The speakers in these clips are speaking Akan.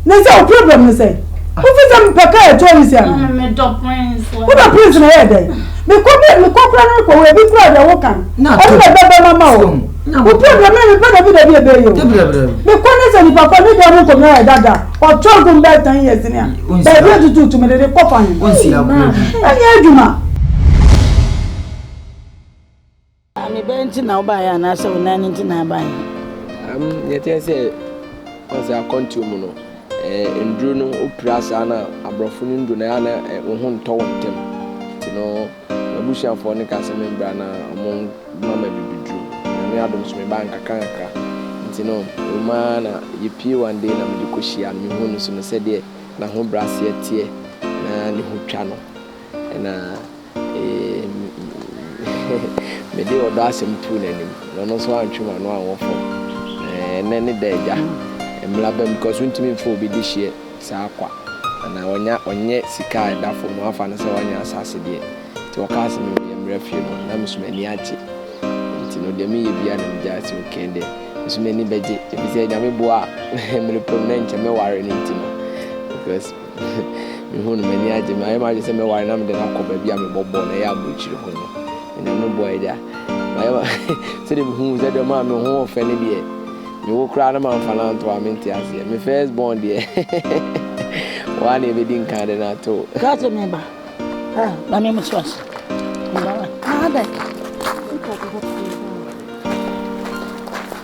Ne sɛ wo problem no sɛ wofi sɛ mpɛ ka yɛ tɔɔ nsi ano wobɛ prince na yɛ dɛn mekɔ bi mekɔ kora no rekɔ wɔ ebi kora deɛ wo kan ɔno na ɛbɛbɛ ma ma wo wo problem na mepɛ dabi dabi ɛbɛ yɛ o mekɔ ne sɛ nipa kɔ ne deɛ ɔmo nkɔmina yɛ dada ɔtɔ nko mbɛ tan yɛ sini a baabi etutu tumi de de kɔ fa he ɛnyɛ adwuma. Ame bɛn nti na wobaeɛ anaasɛ wo nan nti na abaeɛ? Am, deɛ ɛteɛ sɛ ɔsɛ akwantuo mu no, eh, nnuro no wopira saa na aborɔfo no nnuro no ɛyɛ na eh, wo ho ntɔ wɔn ntɛm. Nti no, m'abusuafoɔ no kaa sɛ membra na wɔn ma ma bibiduro. Nyame adom so mebaa nkakrankakra. Nti no, ɛwom ara na yɛpie one day na mede kɔhyiaa no, mehuu no nso no sɛdeɛ n'ahobraseɛ teɛ na ne ho twa no, ɛna Mede ɔdɔ asɛm too n'anim, na ɔno nso antwe m'ano anwɔ fam. Ɛnnɛ ne da agya, mmara abam because wontumi mfa obi dehyeɛ saa kwa. Anaa ɔnya ɔnyɛ sika a ɛda fam no afa no sɛ wanya asase deɛ. Nti ɔkaa sɛ me meyɛ mmara fie no, na me nso m'ani agye. Nti no deɛ meyɛ biara na megyae sɛ okay ɛnde me nso m'ani bɛgye. Ɛfiri sɛ Nyame boa a, mmerɛ pɛ mu na nkyɛ mɛware no nti no because. Mehu no, m'ani agye. Mayɛ m'adwene sɛ mɛware na mede no akɔ baabi a mebɔ bɔɔl no, ɛyɛ aburokyire ho no. Onyame boa agya. Mayɛ ma sɛdeɛ mehu wo sɛ deɛ ɔmaa me ho ɔfɛ no deɛ, me wo koraa na mamfa no anto a, mente aseɛ. Me first born deɛ, wo ara na ɛbɛdi nkan de no ato o. Ka sɛ me ba, ah, na me mo so ase. Mba, ah, dɛ.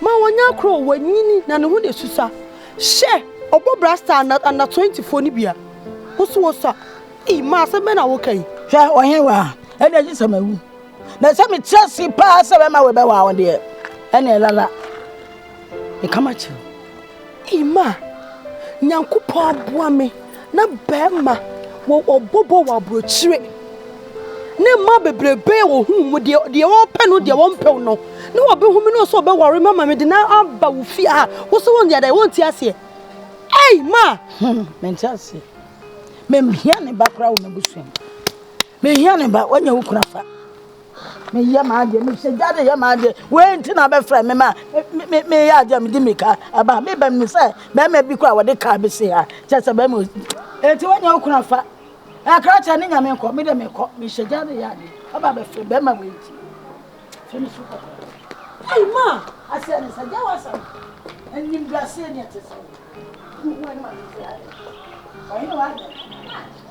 Ma wɔnyɛ akoro o, wɔanyini na ne ho na ɛsusua. Hyɛ ɔbɔ bra star na under twenty foɔ no bia. Wo so wosua. Ii ma asɛm bɛn na woka yi. Hwɛ ɔhen wa a ɛnneɛ gye sɛ mawu na sɛ metrɛ ase paa sɛ bɛma wei bɛwaa wo deɛ ɛnneɛ lala meka makyerɛ wo. Ima, Nyankopɔn aboa me na bɛɛma wɔ ɔbɔbɔ wɔ aborɔkyire. Ne mmaa bebrebe a wɔhunu mu deɛ deɛ wɔpɛ no deɛ wɔmpɛw no na wɔbɛhu me no sɛ wɔbɛware me ama me de na aba wo fie a wo sɛ wɔn deɛ wɔnti aseɛ. Ei ma! Hmm, mente aseɛ. Menhia ne ba koraa wɔ m'abusua mu. Menhia ne ba, wɔnyɛ wo kunu afa. meyɛ m'adeɛ mesɛ gya de yɛ m'adeɛ wei nti na bɛfrɛ me ma meyɛ adeɛ mede mika aba meba mu sɛ bɛrima bi kɔ a wɔde kaa bɛsi ha kyɛ sɛ bɛrima ɛnti woanya wo kuna fa ɛkra kyɛ ne nyame nkɔ mede mekɔ mehyɛ gya de yɛ adeɛ aba bɛfrɛ bɛrima wei nti fɛ me so kɔkɔ Hey ma, I said, I said, there was some, and you were saying it. Who went on? I know I did.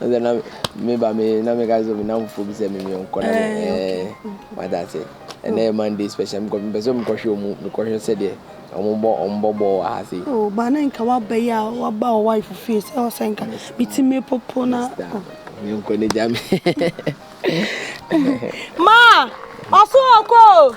Ɛnna na me ba me na meka sɛ me namfofoɔ bi sɛ me me nkɔ na me ɛɛ wada ase ɛnna yɛ monday special mekɔ mpɛ sɛ mekɔhwɛ ɔmu mekɔhwɛ sɛdeɛ ɔmo bɔ ɔmo bɔ bɔɔl wɔ ha se. o oh, ba na nka wabɛyɛ a waba wɔ wife fie sɛ ɔsɛ nka meti me popo na. Oh. me nkɔ ne gya me. ma ɔso ɔkɔ.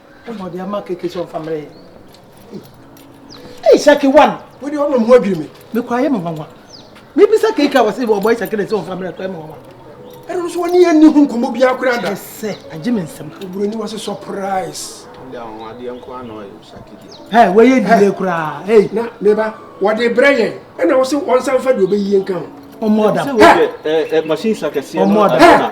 Ɛna ɔde ama keke sɛ ɔmfa mmerɛ yɛ. Ei, Isaki wan. Wode ɔma mu adwiri me. Mekɔ ayɛ me nwanwa. Mebisa keke a wɔse wɔbɔ Isaki dɛ sɛ ɔmfa mmerɛ kɔ ayɛ me nwanwa. Ɛno nso wɔne yɛn nni ho nkɔmmɔ biara koraa da. Sɛ agye me nsɛm. Oburoni wɔ se surprise. Ɛde ahoɔdeɛ nko ara na ɔyɛ Isaki deɛ. Hey, wɔyɛ dile koraa. Hey. Na meba wɔde brɛ yɛn. Ɛna wɔse ɔnsan fa deɛ ɔbɛyie nka ho. Ɔmmɔ ɔdam. Sɛ wɔyɛ machine sakɛseɛ no adana.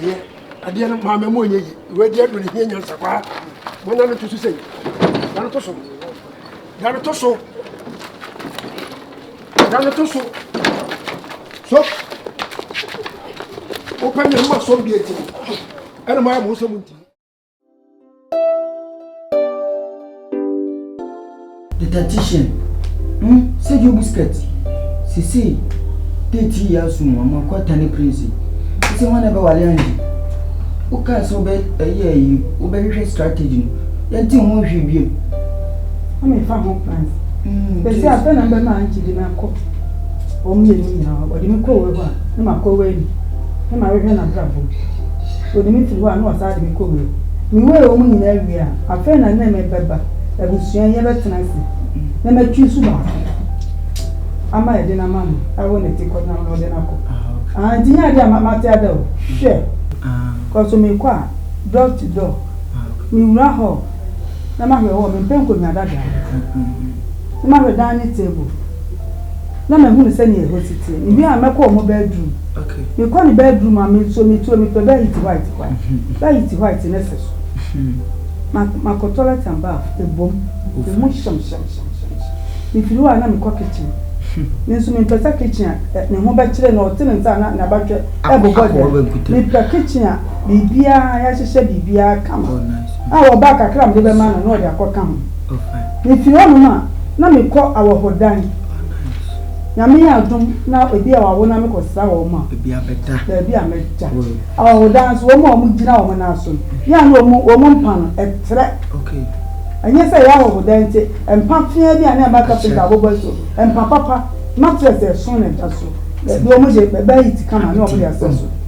ɛyɛ adeɛ no maame mu ɔnyɛ yi wei deɛ no ne hia nyansa paa monyɛ no to so sɛi da no to so da no to so da no to so so wopɛ ne ma sɔm deɛ nti ɛna mayɛ mo nsɛm nti Dietitian, Hm sɛ Joe Busquets sesei date yi aso mu ama kɔ atane prince sɛ hwan na ɛbɛwale Angie wokaa sɛ wobɛ ɛyɛ yi wobɛhwehwɛ strategy no yɛnte ho nhwee biom mefa ho plans bɛsi afɛ na mbɛma Angie de me akɔ wɔn mmienu nyinaa wɔde me kɔ wei hɔ a ne makɔ wei ni ne mahwehwɛ n'abrabɔ So ɔde me firi hɔ a na wasan de me kɔ wura mu? Mewee wɔn nyinaa wie a, afei na ne me bɛba abusua yi abɛtena ase na matwi nso baako ama ɛde no ama no awo ne ti kɔ nam na ɔde no akɔ. Ah, nti nyɛ adeɛ a mate ada o. Hwɛ, kɔ so mekɔ a, door to door, mewura hall na mahwɛ hɔ, mempɛ nkonnwa dadaa, na mahwɛ dining table. na mahunu sɛnea ɛhɔ si te. Mewie a, mɛkɔ wɔn bɛɛdruum. Mekɔ ne bɛɛdruum a, me nso metuo mepɛ bɛɛhiti hwaet kwan. Bɛɛhiti hwaet no sɛ so. Ma, makɔ tɔlɛt and baf, ɛbom. Ɛmu hyem hyem hyem hyem hyem. Mefiri hɔ a, na mekɔ kitchen. Me nso mempɛ sɛ kitchen a ne ho bɛkyere na ɔte ne nsa a na n'abatwɛ rebobɔ deɛ. Mepɛ kitchen a biribiara, yɛahyehyɛ biribiara kama. A ɔbaa kakra a mede bɛma no, na ɔde akɔka ho. Mifi hɔnom a, na mekɔ awɔhodan. Nyame yɛ adom na ebi a wɔawo na mekɔsra wɔn a, baabi a mɛda. Awɔhodan nso, wɔn a wɔgyina wɔn nan so no, yɛ a na wɔn wɔn mpa no, ɛtrɛ. Ɛnyɛ sɛ ɛyɛ awɔhodan nti, mpa feaa bi a na ɛma kapenta abobɔ asu, mpa papa, mattress a ɛsõ na ɛda so, baabi a wɔde bɛyɛ it kama na wɔde asɛ so.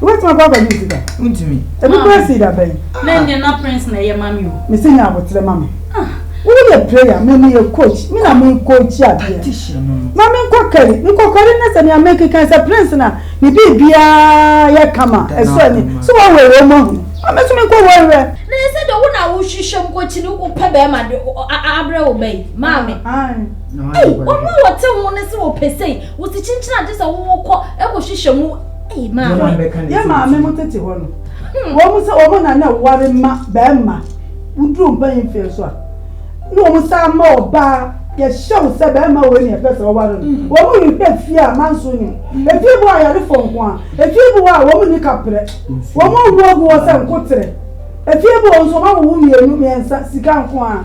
Wait my brother you did that. Untimi. Ebi kura si da bɛn. Na ndia na prince na ɛyɛ mami o. Me se nya abotre mami. Ah. Wo yɛ prayer me me yɛ coach. Me na me coach adeɛ. Tactician no. Ma me nkɔ kari. Me kɔ kari ne sɛ nea me keka sɛ prince na ne bi bia yɛ kama. Ɛsɔ ani. So wa wɔ wɔ mo hu. Ma me so me nkɔ wɔ wɔ. Na ɛsɛ de wo na wo hwehwɛ mu kɔ kyini wo pɛ bɛrima de abrɛ wo bɛyi. Maame. Ai. Ei, ɔno a wɔte ho ne se wɔpɛ sei. Wo ti kyinkyin a gye sɛ wokɔ kɔhwehwɛ mu ei maa me. Yɛn maame mo tete hɔ no, wɔn sɛ wɔn na na ɛware ma barima, woduru mpanyin mfeɛ so a, na wɔn san ma ɔbaa, yɛhyɛ wo sɛ barima wei na yɛpɛ sɛ woware no, wɔn rehwɛ fie a manso nni mu, efie bi wɔ hɔ a ayarefoɔ nko ara, efie bi wɔ hɔ a wɔn nni kaprɛ, wɔn awu agu hɔ sɛ nkoterɛ, efie bi wɔ hɔ nso wɔawowo mmienu, mmiɛnsa, sika nko ara.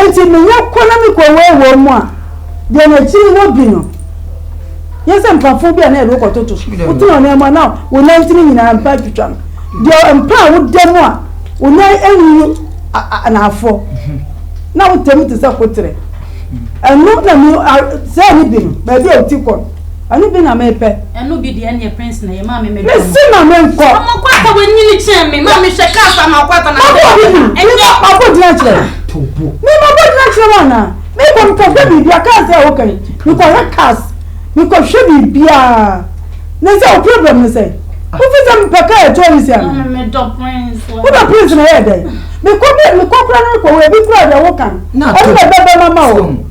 Enti menya kɔ na mekɔ wɔawɔw mu a, deɛn akyiri hɔ bi no, yɛ sɛ mpafoɔ bi a na yɛde wo kɔtoto so, wotena ɔnan mu a na wo nan ntini nyinaa mpa atwitwa no, deɛ mpa a woda mu a wo nan anwuwu anaafoɔ, na wo tɛm te sɛ koterɛ. Ɛno na me, sɛɛ ne bi no, baabi a wo ti kɔ no. Ɛno bi na mepɛ. Ɛno bi deɛ ɛneɛ prince na yɛ maa me mɛdwa mo. Mese ma me nkɔ. Ɔmo kɔ ata wɔ nyini kyɛn me maa me hwɛ kaa fa ma ɔkɔ ata na mɛdwa mo. Ɛnyɛ. Ma bɔ gyina kyerɛ. Tobo. Me ma bɔ gyina kyerɛ wana. Me kɔ mekɔ hwɛ biribi a kaa sɛ ɔkɛ. Mekɔ hwɛ cars. Mekɔ hwɛ biribi a. Ne sɛ o problem ne sɛ. Wofi sɛ mepɛ kaa ɛtɔ ne si ana. Maa me mɛdɔ prince wɔ. Wodɔ prince na yɛ dɛ. Mekɔ bi mekɔ kura ne kɔ wɔ ebi kura deɛ wokan. Ɔno na ɛbɛbɛ mama o.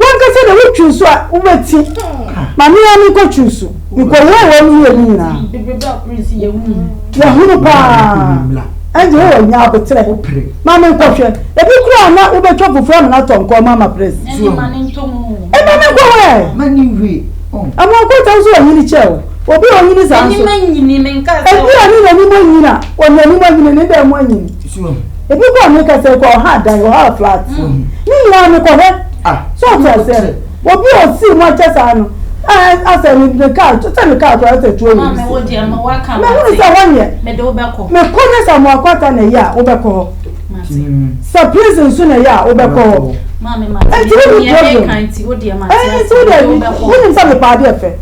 W'ankasa deɛ wotwi nsu a wobɛti ma me ara menkɔtwi nsu mekɔhohoro w'anim ne w'ani nyinaa. Yɛhunu paa ɛne Jehovah nya aboterɛ ma menkɔhwɛ. Ebi koraa na wobɛtwa fufuo amena atɔ nkɔɔ mu ama Prince. Ɛma menkɔhwɛ ɛ! Ɛma ɔkɔtɔ wo so wɔ nyini kyɛ o. Obi a ɔnyini saa nso, ebi a ne n'anim anyini a, ɔde n'anim anyini, ne dan mu anyini. Ebi kɔ ne kasa ekɔ ɔha adan ɔha flat. Ne nyinaa me kɔ hɛ. So ɔte aseɛ no. Obi a ɔsii mu akyɛ saa no asɛ ne ne car sɛ ne car kora asɛ atuo wɔ ne se. Mehunu sɛ hɔ neɛ mekɔ ne sɛ amoako ata na ɛyɛ a wobɛkɔ hɔ. Sɛ prison nso na ɛyɛ a wobɛkɔ hɔ. Ɛnti wo ni problem. Ɛnti wo deɛ wonim sɛ mepɛ adeɛ fɛ.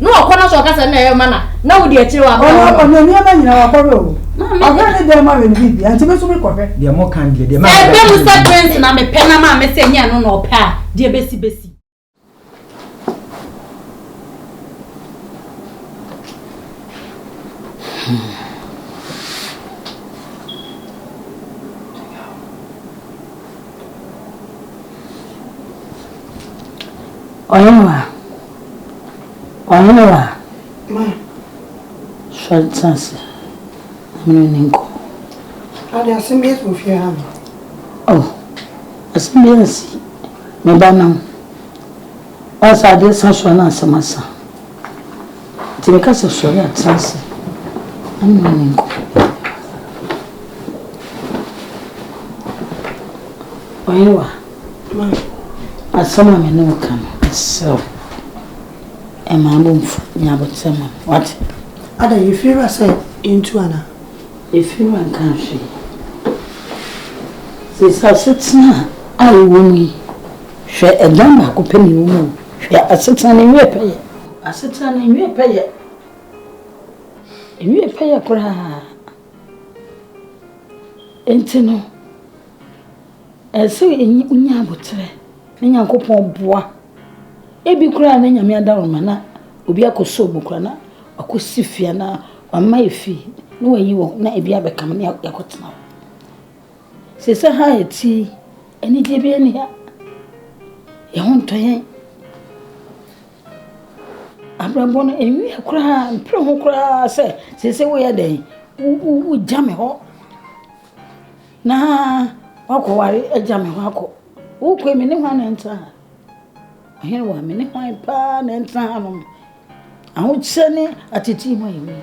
Na ɔkɔ na sɛ ɔka sɛ na ɛyɛ ma na na wodi akyire wɔ abira hɔ no. Ɔne nneɛma nyinaa wakɔhwɛ o. Ɔhwɛ ne dɛm ma wɛn bibia nti me nso me kɔhwɛ. Deɛ mo kan deɛ deɛ maa mi bɛ. Sɛ ɛbɛ mu sɛ prince na me pɛ na maa mi sɛ nyɛ ɛno na ɔpɛ a deɛ ebesi besi. Ɔyɛ ma. Wayɛ wo a, ma sɔre tena ase na me ne wo nni nkɔmmɔ. Ade, asɛm bi asi wɔ fie ha no? Oh, asɛm bi asi, me ba nam. Woayɛ sɛ adeɛ sa so a na asɛm asa. Nti meka sɛ sɔre a tena ase na me ne wo nni nkɔmmɔ. Wayɛ wo a. Ma asɛm a me ne wo ka no, mesrɛ wo, mma me bo mfu. Nya abotire ma me, wate? Adɛn, Yefiriwa sɛ yentu anaa? Yefiriwa nkaa hwee. Seesei asetena a yɛwɔ mu yi, hwɛ, ɛdan baako pɛ na yɛwɔ mu o. Hwɛ, asetena no nwie pɛyɛ. Asetena no nwie pɛyɛ. Nwie pɛyɛ koraa. Enti no. Ɛsɛ sɛ wonya aboterɛ na Nyankopɔn boa. Ebi koraa na Nyame ada wo ma na obi akɔsɔ mu koraa na wakɔsi fie anaa wama yɛ fie na wayi wo na ebi abɛka me na yɛakɔtena hɔ. Sɛsɛ ha a yɛte yi, anigyeɛ biara nni ha. Yɛn ho ntɔ yɛn. Abrabɔ no ɛnwie koraa, mpere ho koraa sɛ sɛsɛ woyɛ dɛn, wogya me hɔ. Na wakɔware agya me hɔ akɔ. Wokɔe me ne hwan na ɛntra ha? Ɔhene wa, me ne hwan paa na ɛntra ha nom? Ahokyɛ ne atetii mu ayɛ wei.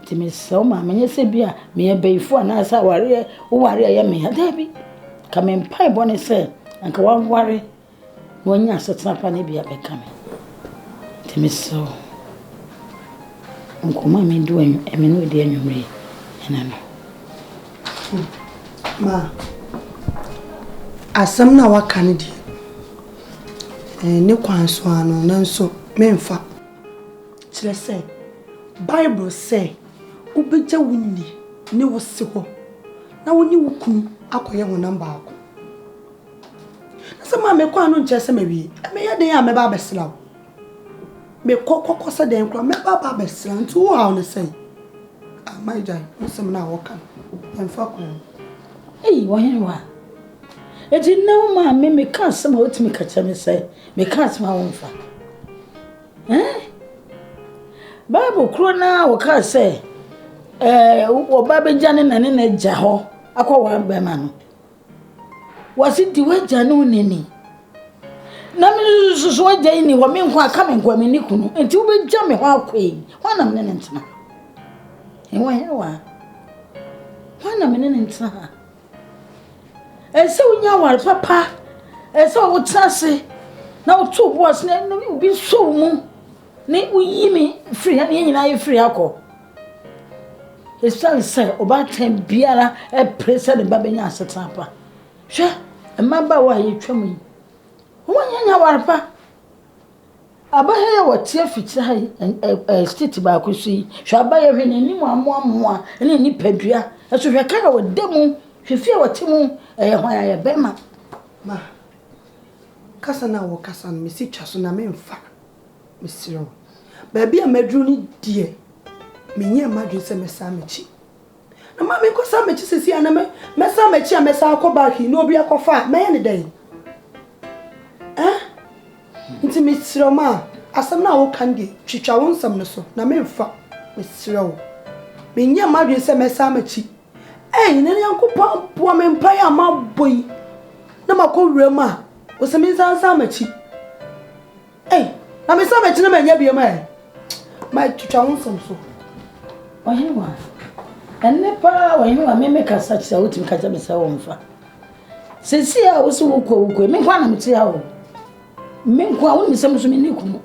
Nti mesrɛ wo ma menyɛ sɛ bi a meyɛ bɛyifo anaasɛ awareɛ woware a ɛyɛ me ya. Daabi, ka me mpaebɔ ne sɛ anka waware Wɔanya asetena pa no bi abɛka me. Nti mesrɛ wo, nkɔmmɔ a me ne wo redi anwummere yi, ɛna no. Ma, asɛm no a woaka no deɛ, ɛne kwan so ara no, nanso memfa. Kyerɛ sɛ, Bible sɛ wobɛgya wo nni ne wo se hɔ na wo ne wo kunu akɔyɛ honam baako. Na sɛ maa mekɔ a no nkyerɛ sɛ mawie. Meyɛ dɛn a mɛba abɛsra wo? Mekɔ kɔkɔ sɛ dɛn koraa mɛba aba abɛsra nti wo haw ne sɛn? Ama agya nsɛm no a wɔka no ɛmfa kwan. Ei ɔhene wa. Eti nnɛ wo maa me meka asɛm a wotumi ka kyerɛ me sɛ meka asɛm a wɔmfa. Eh? Bible koro no a wɔka sɛ ɛɛ wɔba bɛgya ne na ne na agya hɔ akɔ wɔn bɛma no. Wɔse di w'agya ne wo nani. Na me nso so w'agya yi ni hɔ, me nko aka me nko a menni kunu. Enti wobɛgya me hɔ akɔ yi, hwan na mene ne ntena? Ɛwɔ he wa? Hwan na mene ne ntena ha? Ɛsɛ wonya aware papa, ɛsɛ wotena ase na woto wo bo ase na obi sɔ wo mu ne woyi me firi ha ne yɛn nyinaa yɛfiri ha kɔ. Esiane sɛ ɔbaatan biara pere sɛ ne ba bɛnya asetena pa. Hwɛ mmabaawa a yɛtwam yi, wɔnyɛ nyaware pa. Aba ha yi a wɔte afikyire ha yi, ɛ ɛ state baako so yi, hwɛ aba yi, hwɛ n'anim amoamoa ne ne nipadua. Nso hwɛ kar a wɔda mu, hwɛ fie a wɔte mu, ɛyɛ hwan ayɛ bɛrima. Ma, kasa no a wɔkasa no, mesi twa so na memfa. Mesrɛ wo. Baabi a maduru no deɛ, menyɛɛ m'adwene sɛ mɛsan m'akyi. Na maame nkɔsan m'akyi sɛsi a na me mɛsan m'akyi a mɛsan akɔ back yi na obi akɔfa a mɛyɛ ne dɛn? Eh? Nti mesrɛ ma asɛm no a woka no deɛ twitwa wo nsɛm no so na memfa. Mesrɛ wo. Menyɛɛ m'adwene sɛ mɛsan m'akyi. Ei, nnɛ no Nyankopɔn boa me mpaeɛ a mabɔ yi na makɔ wuram a, ɔsɛ me nsa nsan m'akyi. Ei, na mesan m'akyi na manya biam ɛ. Matwitwa wo nsɛm so. Ɔhene wa, ɛnne paa ɔhene wa, me mekasa kyerɛ wo, wotumi ka kyerɛ me sɛ wɔmfa. Sɛsi a wo se wokɔ wokɔ, me nko a na mete ha o. Me nko a, wonim sɛ me so menni kunu.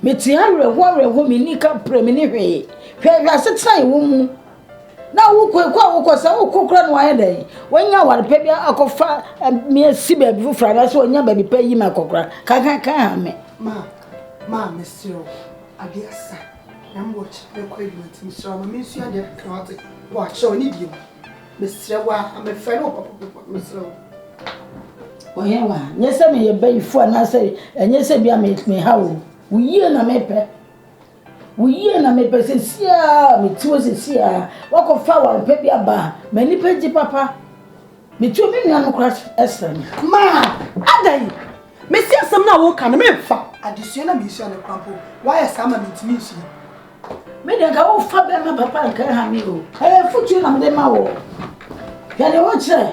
Mete awerɛhoɔ awerɛhoɔ me nni ka prɛ me ne hwee hwɛ hwɛ asetena yɛ wɔ mu na wokɔ ɛkɔ a wokɔ sɛ wokɔ kora no wayɛ dɛn wanya aware pɛ bi akɔfa me asi baabi foforɔ anaasɛ wanya baabi pɛ yi me akɔkora kankankan ha me ma ma mesrɛ ade asa na mewɔ kyerɛ mɛkɔ adwuma nti mesrɛ ma mensu ade akra wate wɔ akyerɛ ɔne deɛ mu Mesrɛ wo a, mefrɛ no pɔpɔpɔpɔ, mesrɛ wo. Ɔyɛ wa, nyɛ sɛ meyɛ bayifo anaasɛ ɛnyɛ sɛ bia meha wo. Wo yie na mepɛ. Wo yie na mepɛ sɛ siaa meti wo sɛ siaa. Wakɔfa awarepɛ bi aba a, m'ani pɛ gye papa. Metuo me nua no kora ɛsrɛ me. Maa, ada yi, mesi asɛm no a woka no memfa. Adesua na meresua no kora mpo, woayɛ saa ma mentumi nsua. Me deɛ nka wofa bɛrima papa a nka ɛha me o. Ɛyɛ afotuo na mede ma wɔ. Hwɛ deɛ wokyerɛ.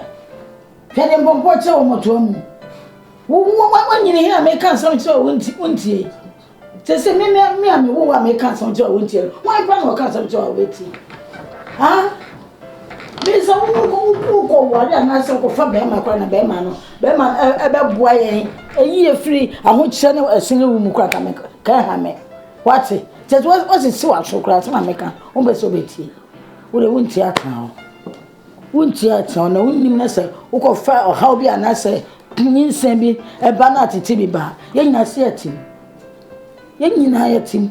Hwɛ deɛ mpɔmpɔ kyerɛ wɔ mmɔtoa mu. Wonyini he a meka nsɛm kyerɛ wo wontie. Sɛ sɛ me me a mewo wo a meka nsɛm kyerɛ wo wontie no, wan kora na ɔka nsɛm kyerɛ wo a wotie? Ha? Bisa wokɔ ware anaasɛ wokɔfa bɛrima kora na bɛrima no bɛrima ɛbɛboa yɛn ɛyi efiri ahokyerɛ ne ɛsene wo mu kora ka me ka ɛha me. Wate? Kyɛ sɛ wa- wasisi w'aso koraa sɛ ma meka. Wompɛ sɛ wobɛtie. Wo deɛ wontie atena hɔ. Wontie atena hɔ na wonnim no sɛ wokɔfa ɔhaw bi anaasɛ nyinsɛn bi ɛba na atete bi ba a, yɛn nyinaa se atim. Yɛn nyinaa yɛtim.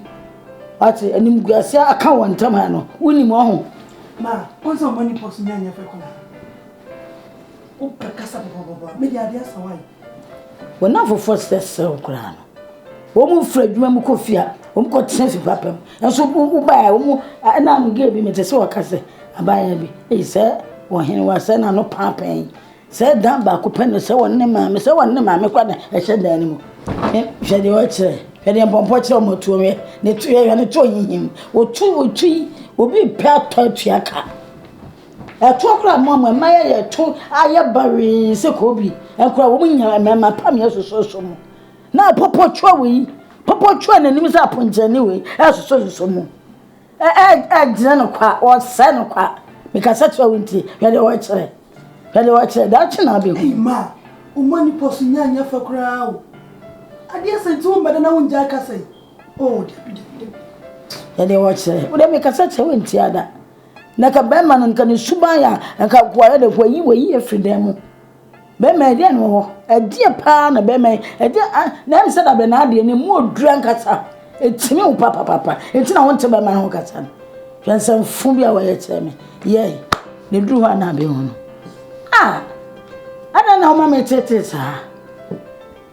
Wate? Animguase aka wɔn ntam ha no, wonnim wɔn ho. Ma, wɔn sɛ wɔn ani pɔ so nyɛ anyɛ fɛ kɔ na. Wopɛ kasa pɔpɔpɔpɔ a, me deɛ adeɛ asa wae. Wɔn a afoforɔ srɛ srɛ wo koraa no, wɔn firi adwuma mu kɔ fie a, wɔn kɔ tena fie papa mu. Nanso wobaeɛ a, wɔn ɛna ano gay bi mete sɛ wɔka sɛ abaayewa bi, ei sɛ ɔhene wa sɛ n'ano paapaa yi. Sɛ dan baako pɛ no sɛ wɔn ne maame sɛ wɔn ne maame kɔ na ɛhyɛ dan no mu. Hwɛ deɛ ɔkyerɛ, hwɛ deɛ mpɔmpɔ kyerɛ wɔn tuo hwɛ ne tuo hwɛ ne tuo hinhim. Wɔtu wɔtu yi obi pɛ atɔ atua ka. Ɛtoɔ koraa a moama mma yɛyɛ ɛto ayɛ bawee sɛ koobi, ɛnkoraa wɔn nyinaa mmarima pa me ɛsosɔsosɔ mu. Na pɔpɔ twɛ wɔ yi, pɔpɔ twɛ n'anim sɛ aponkyɛni wɔ yi ɛsosɔsosɔ mu. Ɛgyina no kwa, ɔsɛ no kwa. Mekasa kyerɛ wo nti, hwɛ deɛ wɔkyerɛ, hwɛ deɛ wɔkyerɛ, daakye na abɛhu. Ei mma, woma nipa so nya nyɛ fɛ koraa o. Adeɛ sɛn nti wommɛda na wongyae kasa yi? Oo dabi dabi dabi. Hwɛ deɛ wɔkyerɛ, wo deɛ mekasa kyerɛ wo ntiada. Na ka bɛrima no, nka ne suban a, nka akoayɛ dɛ, wayi wayi afiri dan mu. Bɛrima ɛdeɛ na wɔ hɔ, ɛdeɛ paa na bɛrima yi, ɛdeɛ a, na ɛm sɛ da bɛ na adeɛ, ne mu ɔduru ankasa, ɛtumi wo papapapa, ɛti na wonte bɛrima no ho kasa no. Hwɛ nsɛmfo bi a wɔyɛ kyerɛ me, yɛe, na ɛduru hɔ a na abɛhunu. Ah! Adɛn na woma me tetee saa?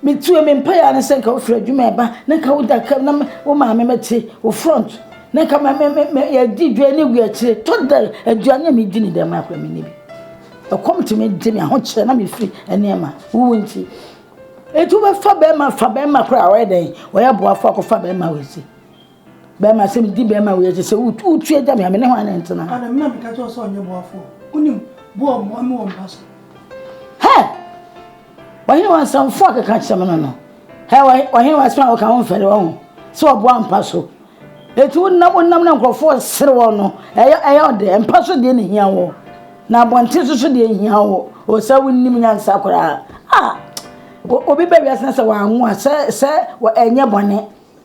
Metsue me mpae a na sɛ nka wofir edwuma eba na nka woda kar na wo maame metse wo front na nka me me me me yɛdzi dwa na ewia ekyir tɔ da eduane a midzi ne dɛm mara koraa minnyi bi. Kɔm tse me dze me ahokyerɛ na mifir nneɛma wuwu ntsi. Ntsi wobɛfa bɛrima fa bɛrima kor a ɔyɛ dɛn ɔyɛ boafo akɔfa bɛrima wɔ edzi. bɛrima sɛ medi bɛrima wei akyi sɛ wotu agya me a me ne hwan na ntena ana me na meka kyerɛ sɛ ɔnyɛ boafoɔ wonim boa mmoa me wɔ mpa so hɛ ɔhene wa nsɛmfo a keka kyerɛ me no no hɛ ɔhene wa asɛm a wɔka ho mfɛre wɔ ho sɛ ɔboa mpa so ɛti wonam wonam na nkurɔfoɔ sere wɔ no ɛyɛ ɛyɛ ɔde mpa so deɛ ne hia wɔ na abɔnten so so deɛ hia wɔ ɔsɛ wonim nyansa koraa a obi bɛ wiase na sɛ wɔanwo a sɛ sɛ ɛnyɛ bɔne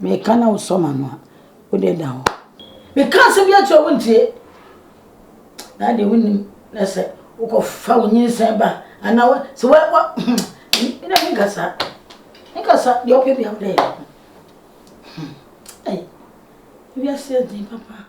Meka na wosɔ m'ano a, wo deɛ da hɔ. Meka asɛm bi akyerɛ wo wontie. Na adeɛ wonim na sɛ wokɔfa wo nyinsɛn ba anaa wo sɛ wa wa me na menka saa. Menka saa deɛ ɔpɛ bia wo dɛ. Ɛy, wiase yɛ den papa.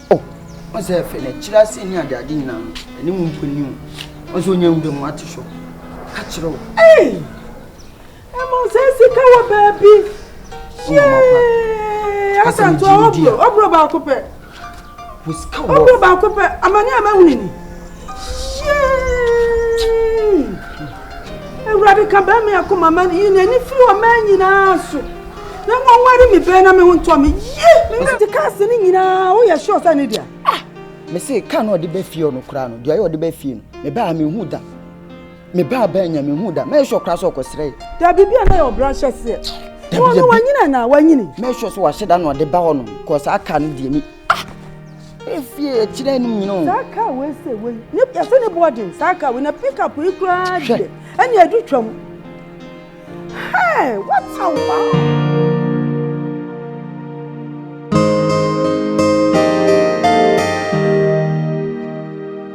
O, ɔn sɛ ɛfɛ, na ɛkyerɛ ase ne ade ade nyinaa no, ɛne mu mpo ni o. Ɔn sɛ onya nwura mu ate hɔ, ka kyerɛ wo. Ei! Ɛmɔ sɛ sika wɔ baabi. Yee! Asanto a ɔburo, ɔburo baako pɛ. Ɔburo baako pɛ, amane a mahunu ni. Awurade ka bɛn me akoma ma yi n'ani firi ɔman nyinaa so na wɔnware me bɛn na me ho ntɔ me yie. Nti ka ase no nyinaa woyɛ sure sɛ ne dea? Ah! Mese ka no ɔde bɛ fie ɔno koraa no deɛ ɔyɛ ɔde bɛ fie no mebaa mehu da mebaa bɛn nya mehu da mɛyɛ sure koraa sɛ ɔkɔsrɛ yɛ. Dabi bi a na yɛ ɔbra hyɛ seɛ. Wɔn no wɔnyina na wɔnyini. Mɛyɛ sure sɛ wahyɛ da na ɔde ba hɔ no kɔ saa ka no deɛ mi. Ah! Efie akyire anim nyina o. Saa kaa wei sɛ wei ne yɛsɛ ne boɔ den saa kaa wei na pickup yi koraa deɛ ɛne adu twam. Hey, what a wow!